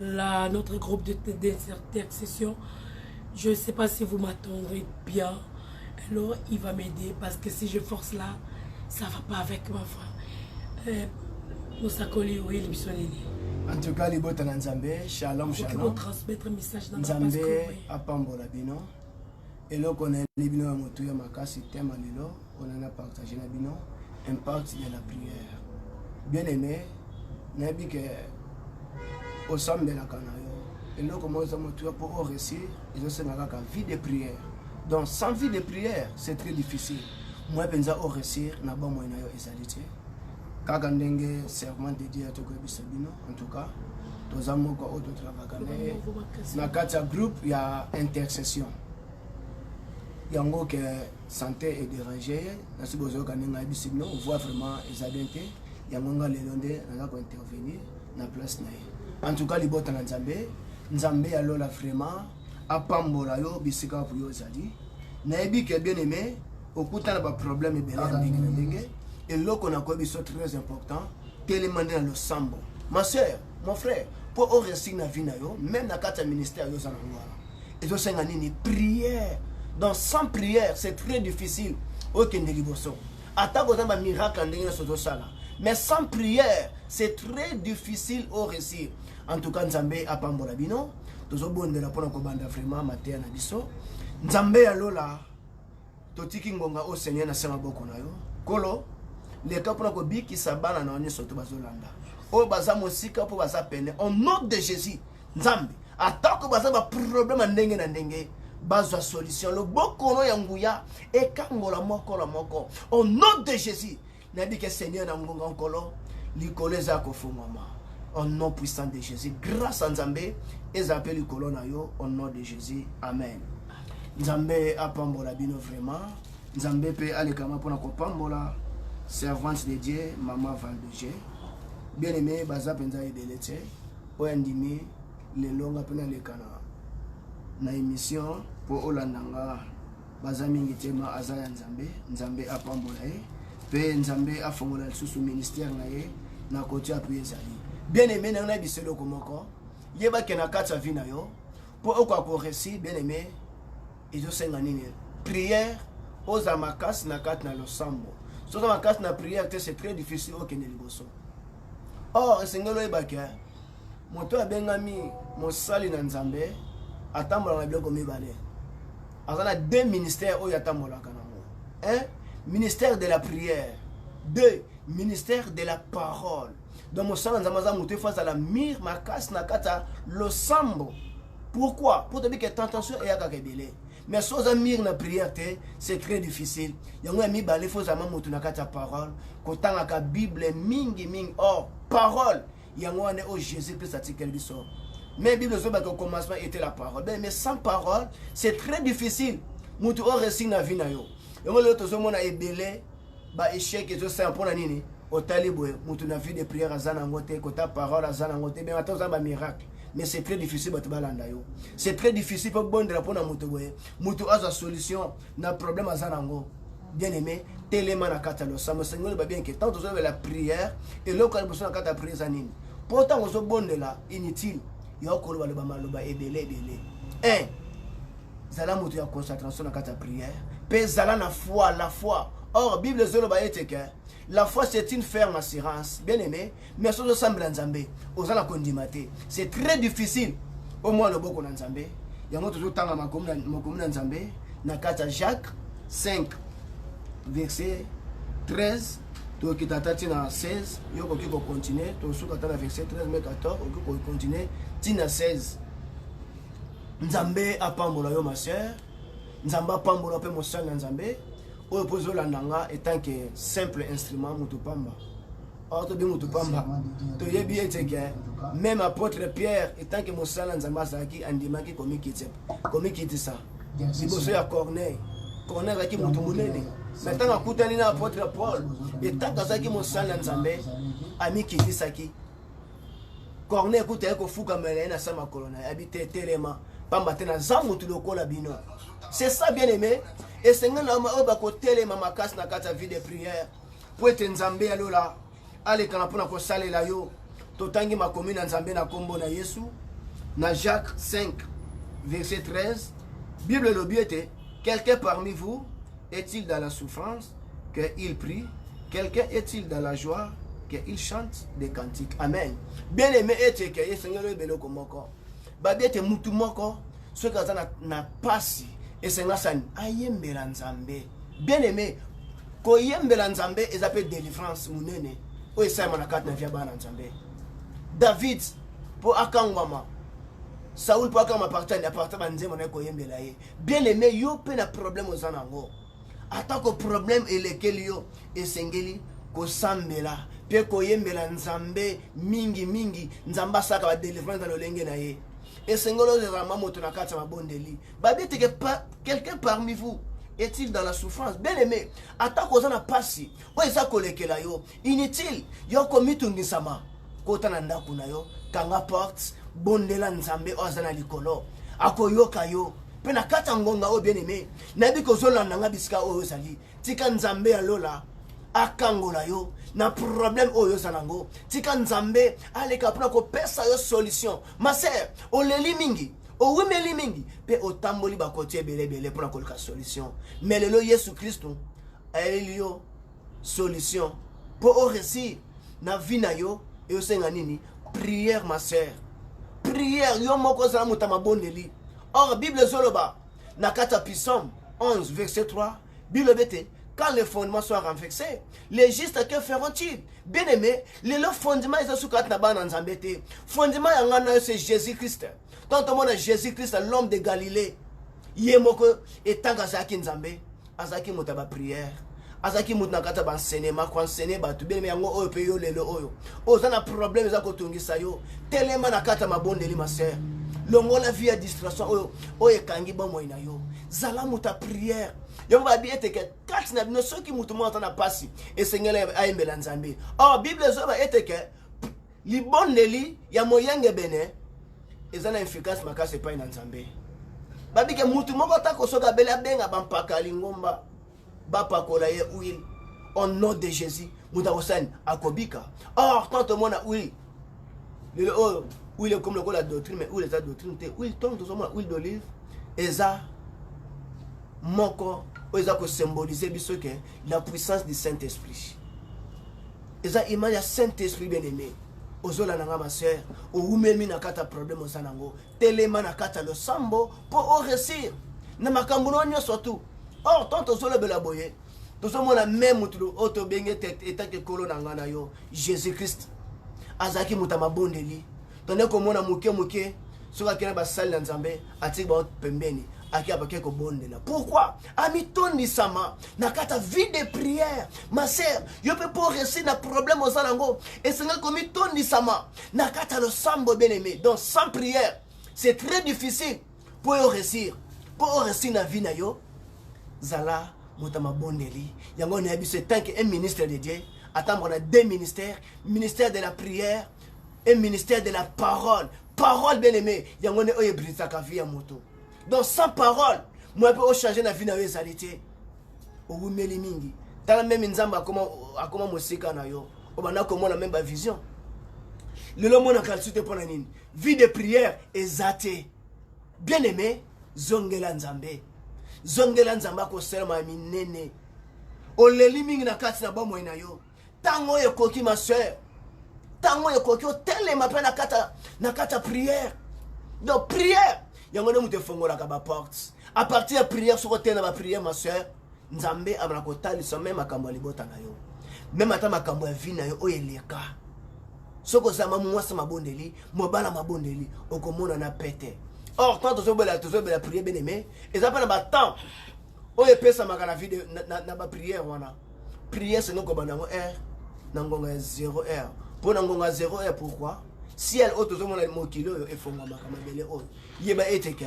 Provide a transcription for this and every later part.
la, notre groupe d'intercession. Je ne sais pas si vous m'attendrez bien. Alors, il va m'aider parce que si je force là, ça ne va pas avec ma foi. Euh, mosakoli oyeli biso nini en tout cas libota na nzambe shalom shalomnzambe apambola bino eloko nayeli bino ya motu ya makasi tema lelo pona na partage na bino impact ya la prière bien aimé nayebi ke osambelaka na yo eloko moko eza motuya mpo o réussir ezosenga kaka vie de prière donc sans vie de prière c'est très difficile moi mpenza o réussir na bomoi na yo ezali te kaka ndenge serment de dieu tokoyebisa bino en tout cas toza moko oyo totravaka na ye na kati ya groupe ya intercession yango ke sante e derange ye nasi bozoyoka ndenge ayebisi bino voix vraiment eza bien te yango nga lelo nde naza kointervenir na place na ye en tout cas libota na nzambe nzambe ya lola vraiment apambola yo bisika wapo yo ozali nayebi ke bien aimé okutana baproblème ebele ya ndenge na ndenge eloko nakoyebi so très important telema nde na losambo ma sœur mon frère mpo o réussir na vie na yo même na kati ya ministère yo oza nango wana ezosenga nini prière donc sans prière c'est très difficile okende liboso atako oza bamiracle ya ndenge nyonso ozosala mais sans prière c'est très difficile o réussir en tout cas nzambe apambola bino tozobondela mpo na kobanda vraiment mateya na biso nzambe ya lola totiki ngonga oyo seigneur na se maboko na yo kolo leka mpona kobikisa bana na yo nyonso to bazolanda oyo baza mosika mpo baza pene au nom de jésus nzambe atako baza baproblème ya ndenge na ndenge bazwa solution loboko no ya nguya ekangola moko na moko au nom de jésus nayebi ke seigneur na ngonga nkolo likolo eza ya kofungwama au nom puissant de jésus grâce a nzambe ezala mpe likolo na yo au nom de jésus amen nzambe apambola bino vraiment nzambe mpe alekama mpona kopambola servante de dieu mama valdoge bien aimé baza mpenza ebele te oyo andimi lelo nga mpe nalekana na émission mpo olanda nga baza mingi te ma aza ya nzambe nzambe apambola ye mpe nzambe afongola lisusu ministère na ye na koti apu ezali bien aime na ngai na biso eloko moko yebake na kati ya vie na yo mpo okoka koresi bien aime ezosenga nini prière ozala makasi na kati na losambo soza makasi na prière te c'est très difficile okende liboso or esengeli oyebake moto abengami mosali na nzambe atambolaka na biloko mibale aza na deux ministères oyo atambolaka nango un ministère de la prière deux ministère de la parole donc mosala nzambe aza moto efo azala mire makasi na kati ya losambo pourquoi mpo toyebi ke tentation eyakaka ebele mais so oza mire na prière te c'est très difficile yango ya mibale fo ozalama moto na kati ya parole kotangaka bible mingi mingi or parole yango wana oyo jésus christ atikeli biso mais bible ezoba que commencement était la parole ben, mais sans parole c'est très difficile motu oyo resi na vie na yo yango lelo tozomona ebele baéchec ezosala mpo na nini otali boye motu na vie de prière aza na yango te kota parole aza na yango te bien ata oza bamiracle mais c'est très difficile bato balanda yo c'est très difficile mpo bondela mpo na moto boye motu azwa solution na problème aza na yango bien aimé telema na kati ya losambo esengo loba bien ke ntango tozolobela prière eloko ya liboso na kati ya prière eza nini mpo ntango ozobondela inutile yo kolobaloba maloba ebele ebele un zala moto ya concentration na kati ya prière mpe zala na foi la foi or bible ezoloba ete ke la foi c'est une ferme assurance bien aimé mais soki ozosambela nzambe oza na kondima te c'est très difficile omwa loboko na nzambe yango tozotanga makomi na nzambe na kati ya jacques 5 verset 13 tokita ata ntina 16 yo okoki kocontinue tosuka ata na verset 13 me 14 okoki kocontinue ntina 16 nzambe apambola yo ma sœur nzambe apambola mpe mosali na nzambe oyo mpo ozolanda nga etanke simple instrument moto pamba or tobi motu pamba toyebi ete ke meme apôtre pierre etant ke mosala nzambe azalaki andimaki komikitisa liboso ya corneille corneille azalaki motu monene na ntango akutani na apôtre paul etango azalaki mosala ya nzambe amikitisaki corneille kuta ye kofukamela ye na sa makolo na ye abi te telema pamba te naza motu lokola bino c'est ça bien aimé esengeli na oyo bakotelema makasi na kati ya vie de prière mpo ete nzambe ya lola alekana mpo na kosalela yo totangi makomi na nzambe na nkombo na yesu na jacques 5 verset 13 bible elobi ete quelqu'un parmi vous est-il dans la souffrance qu'il prie quelqu'un est-il dans la joie qu'il chante des cantiques amen bien aimé ete ke esengeli oyeba eloko moko babi ete mutu moko soki aza na, na pasi esengasa ayembela nzambe bien aimé koyembela nzambe eza mpe delivrance monene oyo esalema na kati na via bana nzambe david mpo akangwama saul mpo akangwama partani aparta banzembo naye koyembela ye bien aime yo mpe na problème oza na yango atako problème elekeli yo esengeli kosambela mpe koyembela nzambe mingi mingi nzambe asalaka badelivrance na lolenge na ye esengeli ozala mwa moto na kati ya mabondeli babeteke pa quelqu'un parmi vous est-il dans la souffrance bien aimé atako oza na mpasi oyo eza kolekela yo inutile yo komitungisama kota na ndako na yo kanga porte bondela nzambe oyo aza na likolo akoyoka yo mpe na kati ya ngonga oyo bien aimé nayebi kozolanda nga bisika oyo ozali tika nzambe ya lola akangola yo na problème oyo oza nango tika nzambe aleka mpona kopesa yo solution ma sœur oleli mingi owumeli mingi mpe otamboli bakoti ebele ebele mpo na koluka solution me lelo yesu kristu ayeli yo solution mpo oresir na vie na yo eosenga nini prière ma sœur prière yo moko ozala moto ya mabondeli or bible ezoloba na kati ya pisome 11 verset 3 bilobete quand les fondements soient renversés les justes que feront-ils bien aimé lelo fondement eza suka ati na bana nzambe te fondement ya ngai na yo c'est jésus christ ntango tomona jésus christ l'homme de galilée ye moko etango azalaki nzambe azalaki moto ya baprière azalaki moto na kati ya bansenema koansene bato bien aimé yango oyo mpe yo lelo oyo oza na problème eza kotungisa yo telema na kati ya mabondeli ma sœur longola vie ya distraction oyo oyo ekangi bomoi na yo zala moto ya priere yango babi ete ke kati na bino soki moto moko ata na mpasi esengeli ayembela nzambe or bible ezoyeba ete ke libondeli ya moyengebene eza na efficace makasi epai na nzambe babike moto moko atako soki abeli abenga bampaka lingomba bapakola ye huile au nom de jésus moto akosani akobika or tant omona huile lelo oyo huile ekomi lokola doctrine mais huile eza doctrine te huile ntongo tozomona huile d'olive eza moko oyo eza kosymbolize biso ke la puissance du saint esprit eza image ya saint esprit bien aimé ozolanda nga ma sœur owumemi na kati ya problème oza nango telema na kati ya losambo mpo o resir na makambo na yo nyonso tu or tant tozolobela boye tozomona me motu oyo tobengi ete etaki ekolo na ngai na yo jésus christ azalaki moto ya mabondeli tondai komona moke moke soki akei na basali na nzambe atiki bango pembeni ake abake kobondela pourkui amitondisama na kati ya vie de prière ma sœur yo mpe mpo réussir na problème oza nango esengeli komitondisama na kati ya losambo ebeneme donc sans prière c'est très difficile mpo yo resir mpo o resir na vie na yo zala moto ya mabondeli yango na ya biso etanke un ministre de dieu atamboka na deux ministères ministère de la prière et ministère de la parole parole bien aimé yango nde oyo ebrisaka vie ya moto donc sans parole moya mpe ochange na vie na yo ezali te owumeli mingi tala meme nzambe akoma, akoma mosika na yo obanda komona meme bavision lelo omonaka lisusu te mpo na nini vie de prière eza te bien aimé zongela nzambe zongela nzambe akosalama ya minene oleli mingi na kati na bomoi na yo Tango oyo ekoki ma soeur. Tango oyo ekoki otelema pe na kata na kata prière. Donc prière yango nde moto efongolaka ba portes. À partir ya prière soko te na ba prière ma soeur, Nzambe abana kotalisa meme makambo ya libota na yo. Meme ata makambo ya vie na yo oyo eleka. Soko zama mwasi mabondeli, mobala mabondeli, okomona na pete. Or quand tozobela tozobela prière bien aimé, eza pe na ba temps oyo epesamaka na video na, na, na bapriere wana priere seno kobanda yango heure na ngonga ya 0 heure mpo na ngonga ya 0 heure pourquoi ciel oyo tozomona mokili oyo efongwamaka mabele oyo yeba ete ke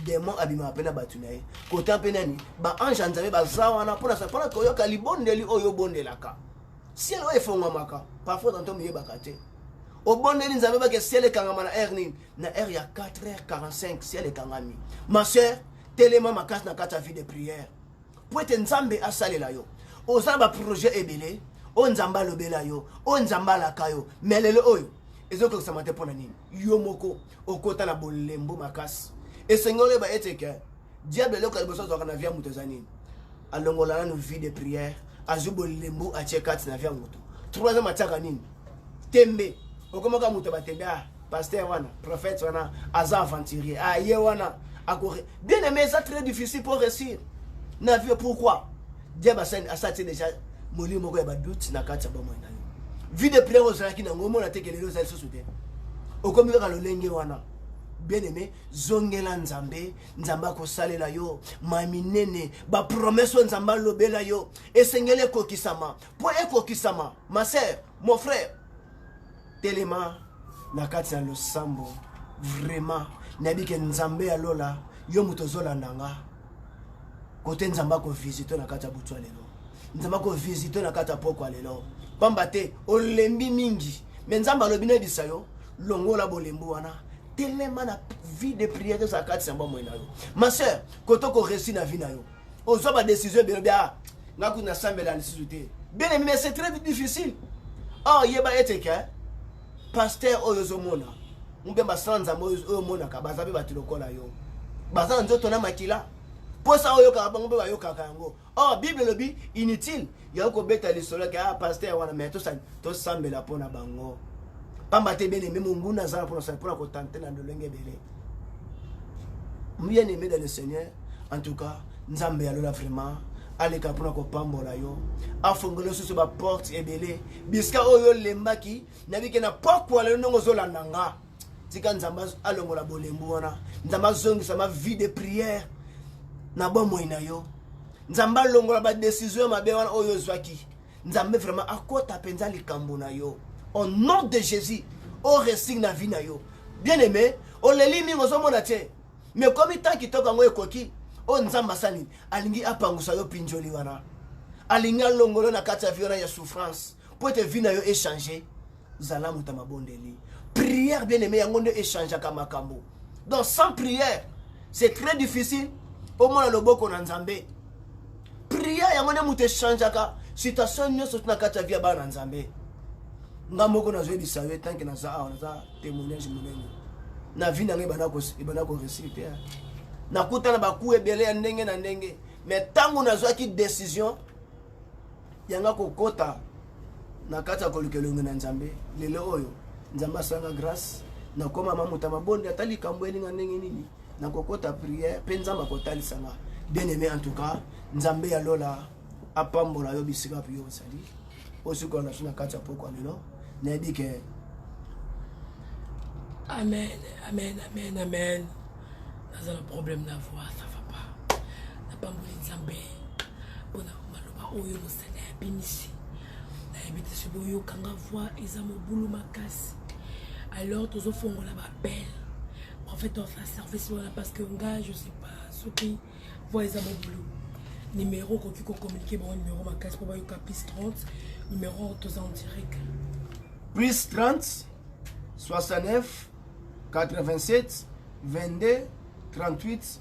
demon abimaka mpe na bato na ye kota mpe nani baange ya nzambe baza wana mpona mpona koyoka libondeli oyo obondelaka ciel oyo efongwamaka parfois tanto miyebaka te obondeli nzambe bake ciel ekangama na aire nini na heure ya 4h45 ciel ekangami ma sœur telema makasi na kati ya vie de prière mpo ete nzambe asalela yo oza na baprojet ebele oyo nzambe alobela yo oyo nzambe alaka yo me lelo oyo ezokokisama te mpo na nini yo moko okota na bolembo makasi esengeli oyeba ete ke diable eloko ya liboso azwaka na vie ya moto eza nini alongola nanu vie de prière azwi bolembu atie kati na vie ya moto trois ans atiaka nini tembe okomaka moto batembe ah pasteur wana prophète wana aza aventurier ah ye wana ako bien aimé eza très difficile pour réussir na vie pourquoi diable asati déjà molimo moko ya badoute na kati ya bomoi na yo vie de prière ozalaki nango omona te kelelo eza lisusu te okomi kaka lolenge wana bien aimé zongela nzambe nzambe akosalela yo mai minene bapromese oyo nzambe alobela yo esengeli ekokisama mpo ekokisama ma sœur mon frère telema na kati ya losambo vraiment nayebi ke nzambe ya lola yo moto ozolanda nga kote nzambe akovisite na kati ya butu ya lelo nzambe akovisite na kati ya pokwa lelo pamba te olembi mingi me nzambe alobi nayebisa yo longola bolembu wana telema na vie de prière ezala kati ya bomoi na yo ma sœur kote okoresi na vie na yo ozwa badesizio ebele bia ah, nga kutu nasambela lisusu te bien aimé c'est très difficile or yeba ete ke pasteur oyo ozomona mpe basala nzambe oyo omonaka baza mpe bato lokola yo baza na nzoto na makila mposa oyo oyokaka bango mpe bayokaka yango or oh, bible elobi inutile yango kobeta lisolo ke ah pasteur wana mai tosambela mpo na bango pamba te bien aimé monguna aza na mpo na sala mpo na kotante na lolenge ebele bien aimé dans le seigneur en tout cas nzambe ya lola vraiment aleka mpo na kopambola yo afongola lisusu baporte ebele bisika oyo olembaki nabike na pokwa lelo ndenge ozolanda nga tika nzambe alongola bolembu wana nzambe azongisa ma vie de prière na bomoi na yo nzambe alongola badesizio ya mabe wana oyo ozwaki nzambe vraiment akota mpenza likambo na yo au nom de jésus oresig na vie na yo bien aimé oleli mingi ozomona te mais komi temps kitoko yango ekoki oyo nzambe asali alingi apangusa yo pinjoli wana alingi alongolo na kati ya vi wana ya souffrance mpo ete vi na yo echange zala moto ya mabondeli prière bien aimé yango nde echangeaka makambo donc sans prière c'est très difficile omona loboko na nzambe prière yango nde moto echangeaka situation nyonso na kati ya vie ya bana na nzambe nga moko nazoyebisa yo etanke naza awa naza témoignage monene na vie na ngai ebanda koresir te nakuta na baku ebele ya ndenge na ndenge me ntango nazwaki décision yanga kokota na kati ya koluka elongi na nzambe lelo oyo nzambe asanga grâce nakoma mamuta mabonde ata likambo elinga ndenge nini nakokota prière mpe nzambe akotalisa nga bien aimé en tout cas nzambe ya lola apambola yo bisika mpe yo ozali osikola na biso na kati ya pokwa lelo nayebi ke amen amen amen amen naza na problème na voix ça va pas napamboli nzambe mpona maloba oyo Seigneur abimisi nayebi te soki boyokanga voix eza mobulu makasi alors tozofongola bapele en fait ofa service wana parce que nga je sais pas soki voix eza mobulu numéro okoki kocommunike bango numéro makasi mpo bayoka plus 30 numéro toza en direct plus 30 69 87 22 38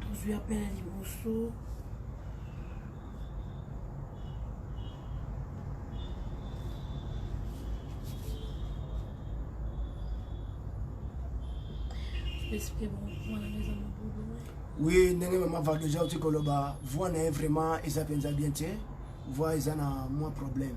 tozwi apela liboso oui ndenge mama vargeja oti koloba voi na ye vraiment eza mpenza bien te voix eza na mwa problème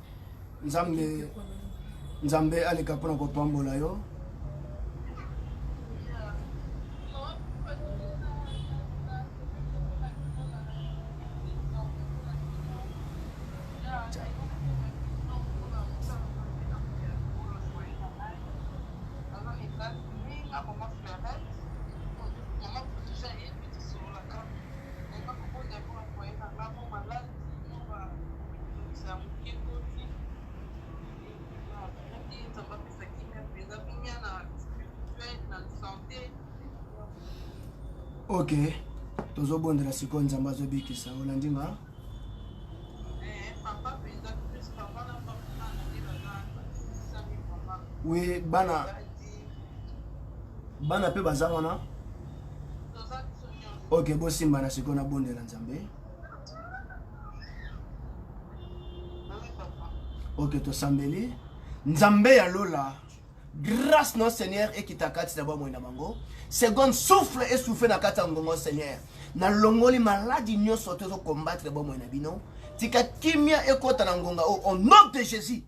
nzambe nzambe aleka mpona kopambola yo ok tozobondela sikoyo nzambe azobikisa olandi nga wi bana bana mpe baza wana ok bosimbana sikoyo nabondela nzambe oke tosambeli nzambe ya lola grâce na seigneur ekita kati na bomoi na bango seconde souffle esouffle na kati ya ngongo seigneur nalongoli maladi nyonso to ezokombatre bomoi na bino tika kimia ekota na ngonga oyo au nom de jésus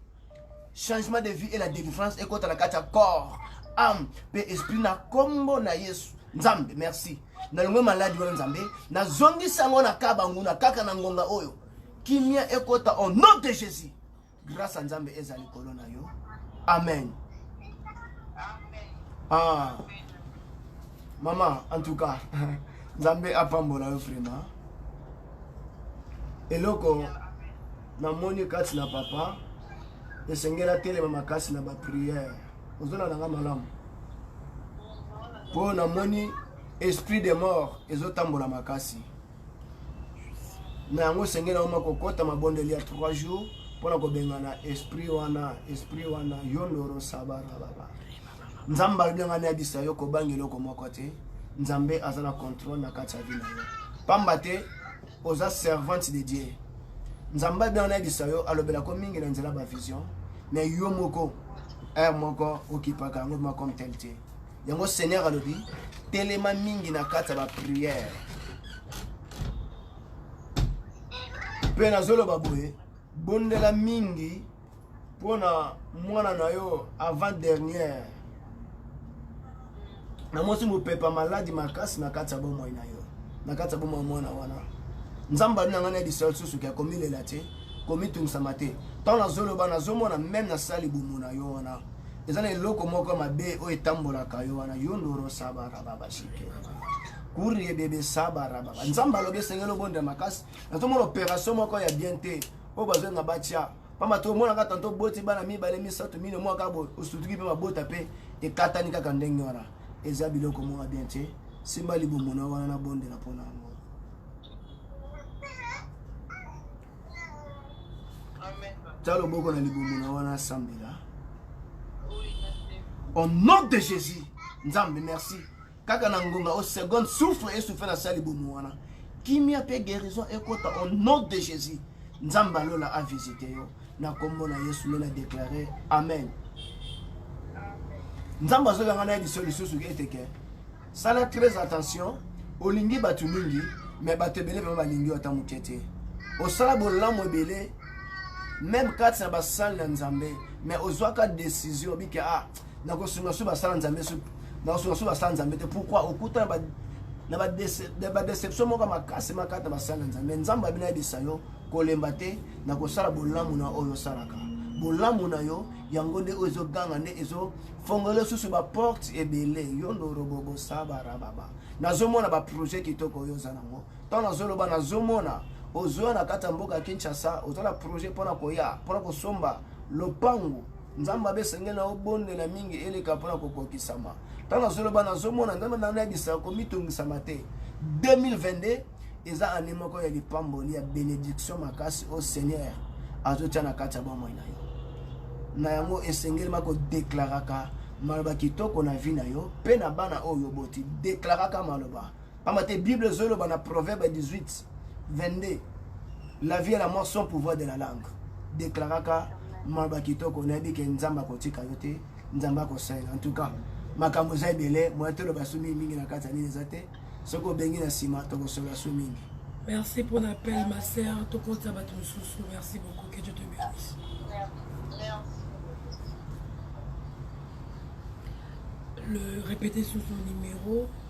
changement de vie et la délivrance ekota na kati ya corps âme mpe esprit na kombo na yesu nzambe merci nalongwe maladi wana nzambe nazongisi yango na kaba nguna kaka na ngonga oyo kimia ekota au nom de jésus grâce ya nzambe eza likolo na yo amen ah. mama en tout cas nzambe apambola yo vraiment eloko namoni kati na papa esengeli atelema makasi na bapriere ozolanda nga malamu mpo namoni esprit de mort ezotambola makasi na yango esengeli yango makokɔta mabondeli ya 3 jours mpo na kobengana esprit wana esprit wana yo ndoro sabarababa nzambe alobi yanga nayebisa yo kobanga eloko moko te nzambe aza na controle na kati ya vi na yo pamba te oza servante de dieu nzambe abi anayebisa yo alobelako mingi na nzela bavision me yo moko heure moko okipaka yango ma comme tel te yango seigneur alobi telema mingi na kati ya bapriere mpe nazoloba boye bondela mingi pona mwana na yo avant dernière na mwasi mopepa maladi makasi na kati ya bomoi na yo na kati ya bomoi mwana wana nzambe ali na ngai na lisala lisusu ke komilela te komitungisama te ntango nazoloba nazomona meme nasala libumu na yo wana eza na eloko moko mabe oyo etambolaka yo wana yo ndoro sabarababashike kuriebebe sabarababa nzambe alobi esengeli obondela makasi nazomona operation moko ya bien te oyo bazolinga batya pamba to omonaka tanto oboti bana mibale misato mino mwa kaka osutuki mpe mabota mpe ekatani kaka ndenge wana eza biloko moko ya bien te simba libumu na wana nabondela mpo na yango tya loboko na libumu na wana asambela au nom de jésus nzambe merci kaka na ngonga o seconde souffle esouffle na sali bomo wana kimia mpe guérison ekota au nom de jésus nzambe alola avisite yo na nkombo na yesu nde na deklare amen nzambe azolanga na ye liso lisusu eteke sala très attention olingi bato mingi me bato ebele vraimen balingi yo ata moke te osala bolamu ebele meme kati na basale na nzambe me ozwaka décision obike ah nakosunga su basala nzambe su nakosunga su basala nzambe te pourquoi okuta na badeception moko makasi makati na basala nzambe nzambe abino ayebisa yo kolemba te na kosala bolamu na oyo osalaka bolamu na yo yango nde oyo ezoganga nde ezofongola lisusu baporte ebele yo ndorobobosabarababa nazomona baprojet kitoko oyo oza nango ntango nazoloba nazomona ozoya na kati ya mboka ya kinshasa oza na projet mpona koya mpona kosomba lopango nzambe abe esengeli na obondela mingi eleka mpona kokokisama ntango nazoloba nazomona nzambe nano yabisa komitungisama te 2022 eza ane moko ya lipamboli ya benediction makasi o seigneur azotya na kati ya bomoi na yo na yango esengeli makodeklaraka maloba kitoko na vi na yo mpe na bana oyo oboti deklaraka maloba Pamba te Bible ezoloba na Proverbe 18 22 la vie et la mort sont pouvoir de la langue deklaraka maloba kitoko nayebi ke nzambe akotika yo te nzambe akosalela en tout cas makambo eza ebele moya toloba su mingi mingi na kati ya nini eza te soki obengi na nsima tokosolola su mingi merci pour l'appel ma sœur tokotisa bato mosusu merci beaucoup que dieu te bénisse le répéter sur son numéro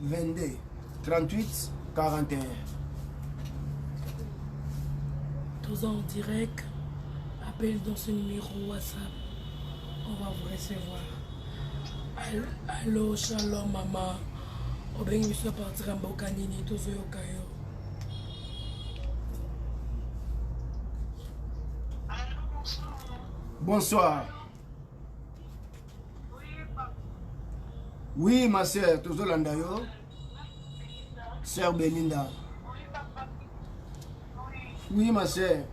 22 38 41 toza en direct appel dans ce numéro whatsapp on va vous recevoir allo shalom mama obengi biso ya partir ya mboka nini tozoyoka yo bonsoir Oui, ma sœur, tozo landa yo. Sœur Belinda. Oui, ma sœur.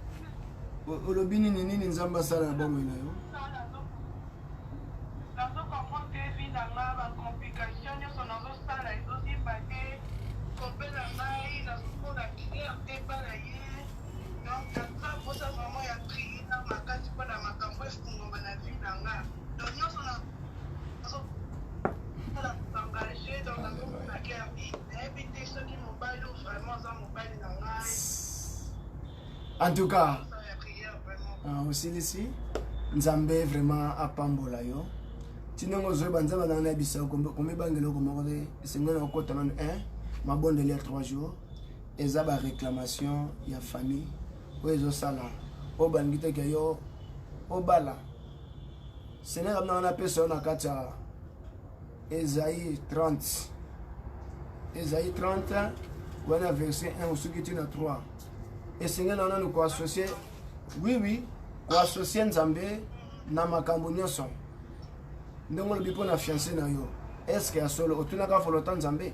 Olobi nini nini Nzambe asala na bomoi na yo? en tout cas euh, osilisi nzambe vraiment apambola yo ti ndenge ozoyeba nzambe azanga na bisa komibanga eloko moko te esengeli na kokota nano 1 mabondeli ya 3 jours eza ba reclamation ya famille oyo ezosala oyo balingi te ke yo obala senere amina wana apesa yo na kati ya ezai 30 ezai 30 wana verset 1 osuki ti na 3 esengeli wana ni koassocie oui oui koassocie nzambe na makambo nyonso ndenge olobi mpo na fiance na yo estce ya solo otunaka folota nzambe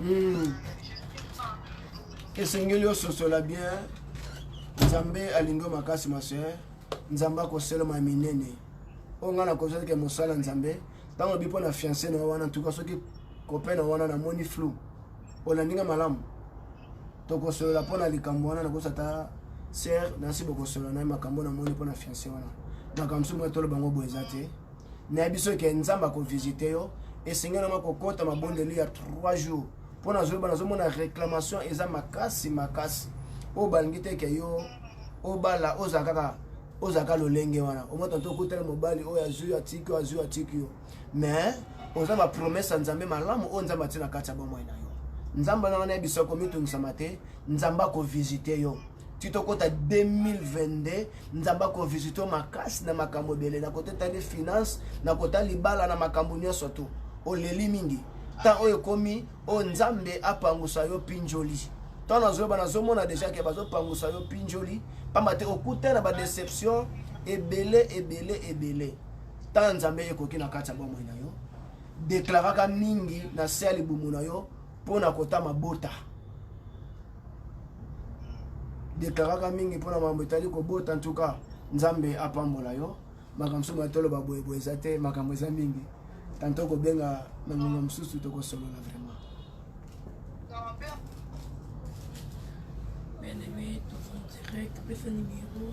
Hmm. esengeli ososola bien nzambe alingi makasi masoeur nzambe akoseloma minene oyo ngai nakozwa teke mosala nzambe ntango obi mpo na fiance na wana ntuka soki kope na wana namoni flou olandi ngai malamu tokosolola mpo na likambo wana nakosa ata ser nasi bokosolola na ye makambo namoni mpo na fiance wana makambo mosusu moya toloba yango boye eza te nayebi soki ke nzambe akovisite yo esengeli nama kokota mabondeli ya 3 jours mpo nazoyeba nazomona réclamation eza makasi makasi oyo balingi te ke yo obala ozala kaka ozala kaka lolenge wana omotanta okutana mobali oyo azwi atiki oyo azwi atiki yo mais oza ba promesse ya nzambe malamu oyo nzambe atie na kati ya bomoi na yo nzambe wana wana yebisa komitungisama te nzambe akovisite yo ti tokɔta 2022 nzambe akovisite yo makasi na makambo ebele na kota etali finance na kota libala na makambo nyonso tu oleli mingi ntan oyo ekomi oyo nzambe apangusa yo pinjoli ntango nazoyeba nazomona deja ke bazopangusa yo pinjoli mpamba te okutana badeception ebele ebele ebele Ntango ya Nzambe ye ekoki na kati ya bomoi na yo. Deklaraka mingi na se ya libumu na yo mpo na kota mabota. Deklaraka mingi mpo na mambo etali kobota. Ntuka Nzambe apambola yo. Makambo mosusu mai toloba boyeboye eza te, makambo eza mingi. Tanto kobenga na ngonga mosusu tokosolola vraiment. Bien-aimé, ton direct, pesa numéro.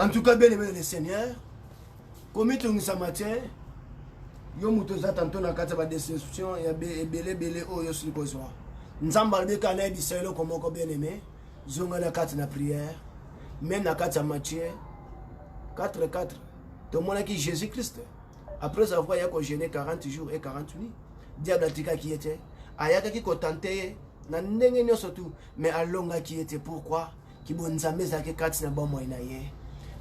en tout cas bien aimé le seigneur komitungisama te yo moto oza tanto na kati ya badeception ya ebele ebele oyo osili kozwa nzambe alobeka anayebisa eloko moko bien aimé zonga na kati na prière meme na kati ya matière 4 4 tomonaki jésus christ après avoir ya kogene 40 jours et 40 nuit diable atikaki ye te ayakaki kotante ye na ndenge nyonso tu mais alongaki ye te pourquoi kibonzambe ezalaki kati na bomoi na ye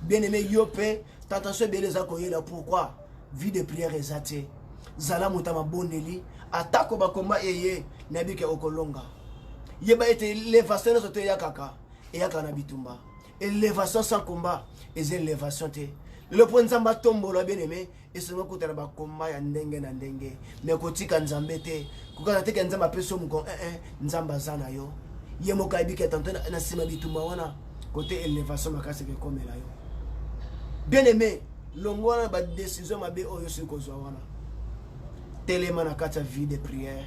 bien aimé yo mpe tentation ebele eza koyela pourquoi vie de prière eza te zala moto ya mabondeli atako bakomba eye nayebi ke okolonga yeba ete elevation nyonso te eyakaka eyaka na bitumba elevation sans combat eza elevation te lelo mpo nzambe atombola bien aime esongi okutana bakomba ya ndenge na ndenge me kotika nzambe te kokana teke nzambe apesi yo mokon ee eh, eh, nzambe aza na yo ye moko ayebi ke tante na nsima bitumba wana kote elevation makasi ekomela yo bien aime longwa na ba decision mabe oyo osi kozwa wana telema na kati ya vie de prière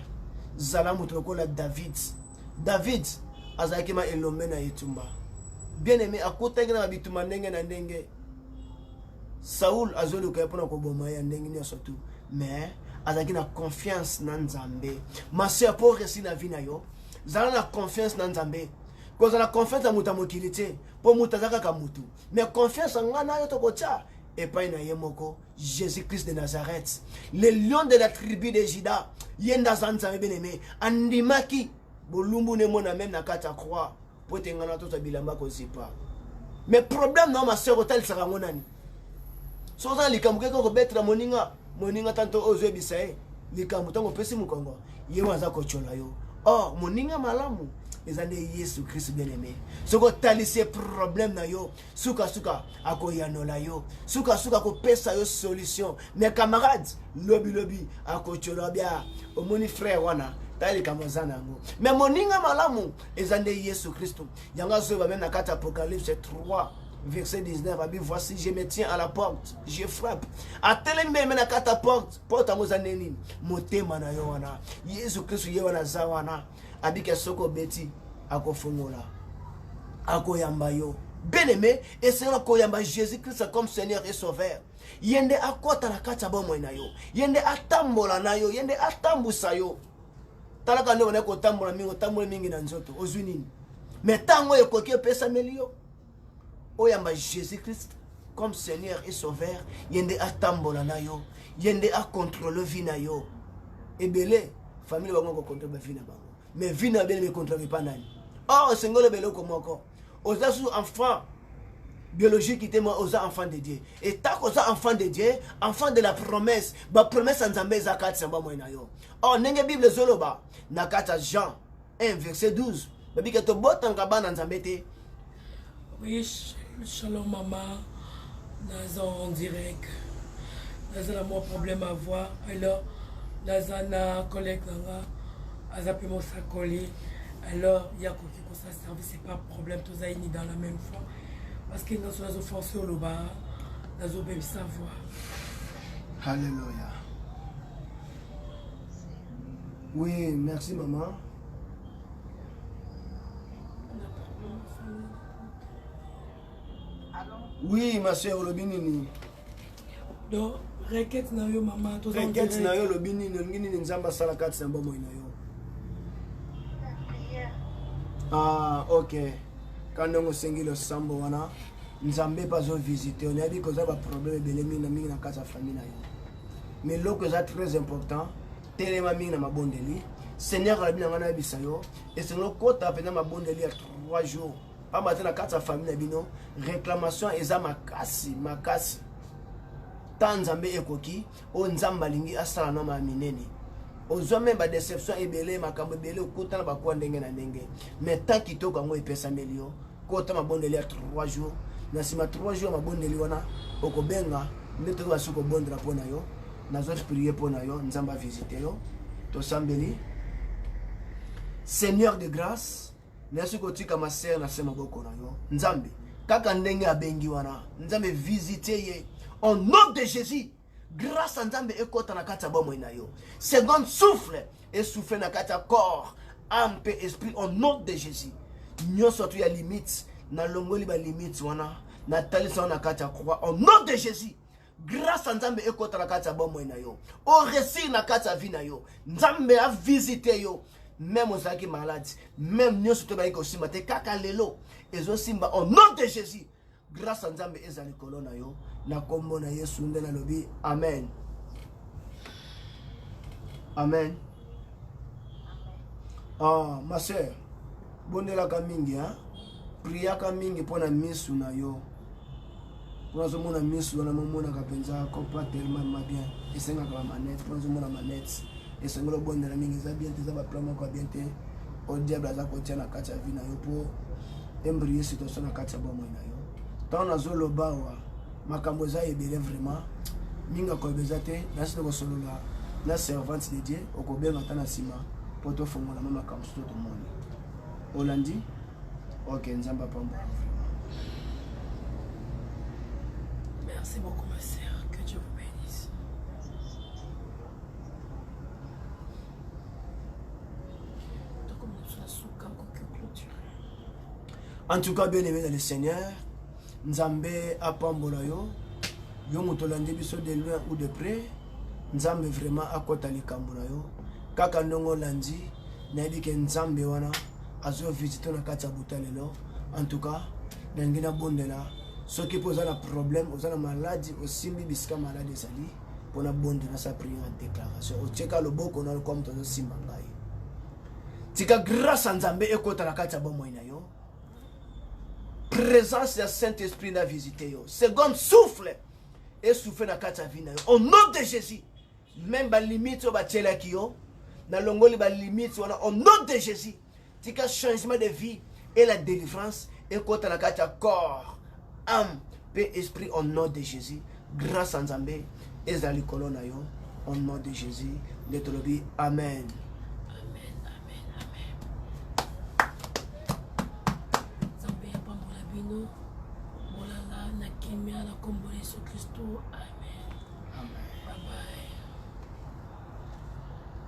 zala moto lokola david david azalaki ma elombe na etumba bien aimé akutaki na bitumba ndenge na ndenge saul azoluka ye mpona koboma ye ya ndenge nyonso tu mais azalaki na confiance na nzambe masoeur mpo oresi na vie na yo zala na confiance na nzambe kozala confiance ya moto ya mokili te mpo moto aza kaka motu me confiance ya ngai nayo tokotia epai na ye moko jésus christ de nazareth le lion de la tribu de juda ye nde aza nzambe beneme andimaki bolumbu ne mona meme na kati ya croix mpo ete ngai na tozwa bilamba kozipa me problème na yo masere otalisaka yango nani soki oza na likambo keke okobetela moninga moninga tanto ozoyebisa ye likambo ntango opesi mokongo ye wana aza kotyola yo or moninga malamu eza nde yesu kristu bien aime soki otalisi ye problème na yo sukasuka akoyanola yo sukasuka akopesa yo solution mais camarade lobilobi akotyola bia omoni frère wana tala likambo eza na yango mais moninga malamu eza nde yesu kristu yango azoyeba meme na kati apocalypse 3 verset 19 abi voici je me tiens à la porte je frappe atelemi meme na kata porte porte yango eza nde nini motema na yo wana yesu kristu ye wana aza wana abika soki obeti akofungola akoyamba yo bien aimé esenga koyamba jésus christ comme seigneur et sauveur ye nde akɔta na kati ya bomoi na yo ye nde atambola na yo ye nde atambusa yo talaka nde obandaki kotambola mingi otamboli mingi na nzoto ozwi nini me ntango oyo ekoki epesameli yo oyamba jésus christ comme seigneur et sauveur ye nde atambola na yo ye nde acontrole vie na yo ebele famille bango kocontrole bavi na bango mais vi na bele becontrole epa nani or esengi oloba eloko moko oza susu enfant biologique te moi oza enfant de dieu etako oza enfant de dieu enfant de la promesse bapromesse ya nzambe eza kati ya bamoi na yo or ndenge bible ezoloba na kati ya jean 1 verset 12 babi ke tobotanga bana nzambe te oui shalom mama naza en direct naza na mwa problème à voir alors naza na collègue na nga aza mpe mosakoli alors ye akoki kosala service c'est pas problème toza ini dans la même fois parce que nyonso nazo force oloba nazobebisa voir halleluya Oui, merci maman. Oui, ma soeur, olobi nini? Donc, requête na yo maman, toza Requête na yo olobi nini? Olingi nini Nzambe asala kati na bomoi na yo? Ah, OK. Kanda osengi losambo wana, Nzambe mpe azovisite yo. Nayebi koza baproblème ebele mingi na mingi na kati ya famille na yo. mais eloko eza très important telema mingi na mabondeli seigneur alabi na ngai nayebisa yo esengeli okota mpenza mabondeli ya 3 jours pamba te na kati ya famille na bino réclamation eza makasi makasi ta nzambe ekoki oyo nzambe alingi asala na maa minene ozwa meme badeception ebele makambo ebele okutana bakuwa ndenge na ndenge mais temps kitoko yango epesameli yo kota mabondeli ya 3 jours na nsima 3 jours ya mabondeli wana okobenga nde toki basuki kobondela mpo na yo nazwa sprie mpo na yo nzambe avisite yo tosambeli seigneur de grâce nayasi kotika masere na se maboko na yo nzambe kaka ndenge abengi wana nzambe visite ye au nom de jésus Grâce ya Nzambe ekota na kati ya bomoi na yo. Seconde souffle esouffle na kati ya corps, âme mpe esprit au nom de Jésus. Nyonso tu ya limite na longoli ba limite wana na talisa wana na kati ya croix au nom de Jésus. grâce ya nzambe ekota na kati ya bomoi na yo oresir na kati ya vie na yo nzambe avisite yo meme ozalaki maladi meme nyonso to ebaki kosimba te kaka lelo ezosimba au nom de jésus Grâce à Nzambe eza likolo na yo na kombo na Yesu nde nalobi amen. Amen. Ah, ma sœur, bondelaka mingi hein? priaka mingi mpo na misu na yo mpo nazomona misu wana momonaka mpenza copa tellement ma bien esengaka bamanete mpo nazomona manete esengeli obondela mingi eza bien te eza baplan moko ya bien te o diable aza kotia na kati ya vi na yo mpo Embrie situation na kati ya bomoi na yo ntango nazoloba awa makambo eza ebele vraiment mingi akoyeba eza te nasi tokosolola na servante de dieu okobenga ata na nsima mpo tofongolama makambo soto tomoni olandi ok nzambe apambola Merci beaucoup, ma sœur. Que Dieu vous bénisse. en tout cas bien aimé dans le seigneur nzambe apambola yo yo moto olandi biso de loin ou de près nzambe vraiment akɔta likambo na yo kaka ndongo olandi nayebi ke nzambe wana azovisite na kati ya buta lelo en tout cas nalingi nabondela soki mpo oza na problème oza na maladi osimbi bisika maladi ezali mpo nabondela sa priere ya déclaration otyeka loboko na lokola moto azosimba ngai tika grâce ya nzambe ekota na kati ya bomoi na yo présence ya saint esprit na visite yo second souffle esouffle na kati ya vie na yo au nom de jésus meme balimite oyo batielaki yo nalongoli balimite wana au nom de jésus tika changement de vie et la délivrance ekota na kati ya corps âme mpe esprit au nom de jésus grâce ya nzambe ezala likolo na yo au nom de jésus nde tolobi amen bino bolala na kimia na nkombo ya yesu kristo amen, amen. Bye bye.